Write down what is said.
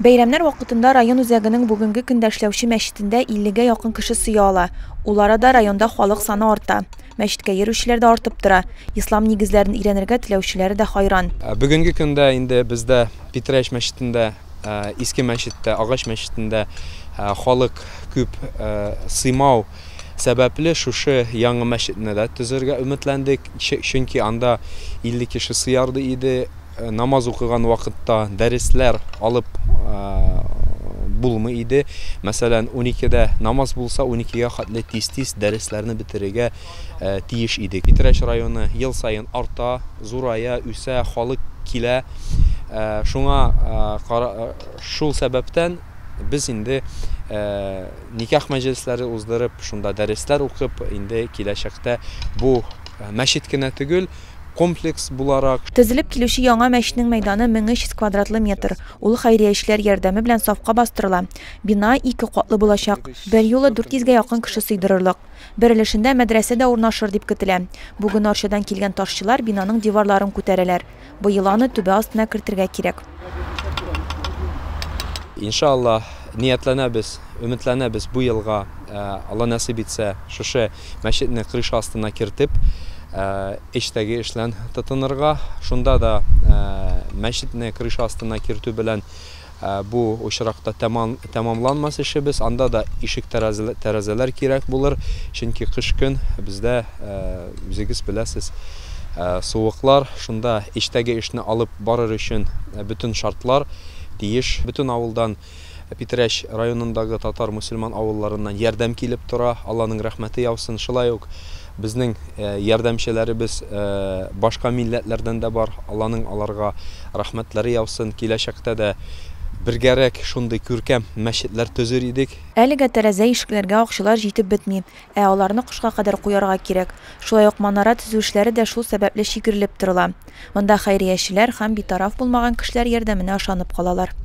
Бәйрәмнәр вакытында район үзәгенең бүгенге көндә эшләүче мәчетендә 50 гә якын кеше сыя ала. Ул арада районда халык саны арта. Мәчеткә йөрүчеләр дә артып тора. Ислам нигезләрен өйрәнергә теләүчеләре дә хайран. Бүгенге көндә инде бездә Питрәч мәчетендә, Иске мәчеттә, Агач мәчетендә халык күп сыймау. сәбәпле, шушы яңа мәчетне дә төзергә өметләндек, чөнки анда 50 кеше сыярлык иде, намаз укыган вакытта дәресләр алып булмый иде, мәсәлән, уникедә намаз булса, уникегә хәтле тиз-тиз дәресләрне бетерергә тиеш идек. Питрәч районы ел саен арта, зурая, үсә, халык килә, шуңа, шул сәбәптән, Без инде никах мәҗлесләре уздырып, шунда дәресләр укып, инде киләчәктә бу мәчет кенә төгел, комплекс буларак. Тезелеп килүче яңа мәчнең мәйданы 1300 квадратлы метр. Ул хәйрия эшләр ярдәме белән сафка бастырыла. Бина ике катлы булачак. Берьюлы 400 гә якын кеше сыйдырырлык. Бер өлешендә мәдрәсә дә урнашыр дип көтелә. Бүген Арчадан килгән ташчылар бинаның диварларын күтәрәләр. Быел аны түбә астына кертергә кирәк. Инша Аллаһ, ниятләнәбез, өметләнәбез бу елга, Алла нәсыйп итсә, шушы мәчетне крыша астына кертеп, эчтәге эшлән тотынырга. Шунда да мәчетне крыша астына кертү белән, Бу очракта тәмамланмас эшебез, анда да ишек-тәрәзәләр кирәк булыр, чөнки кыш көн, бездә, үзегез беләсез, суыклар, шунда эчтәге эшне алып барыр өчен бөтен шартлар тиеш. Бөтен авылдан, Питрәч районындагы татар-мөселман авылларыннан ярдәм килеп тора, Алланың рәхмәте яусын, шулай ук, Безнең ярдәмчеләребез башка милләтләрдән дә бар, Алланың аларга рәхмәтләре яусын. Киләчәктә дә бергәрәк шундый күркәм мәчетләр төзер идек. Әлегә тәрәзә-ишекләргә акчалар җитеп бетми, ә аларны кышка кадәр куярга кирәк. Шулай ук манара төзү эшләре дә шул сәбәпле чигерелеп торыла. Монда хәйриячеләр һәм битараф булмаган кешеләр ярдәменә ышанып калалар.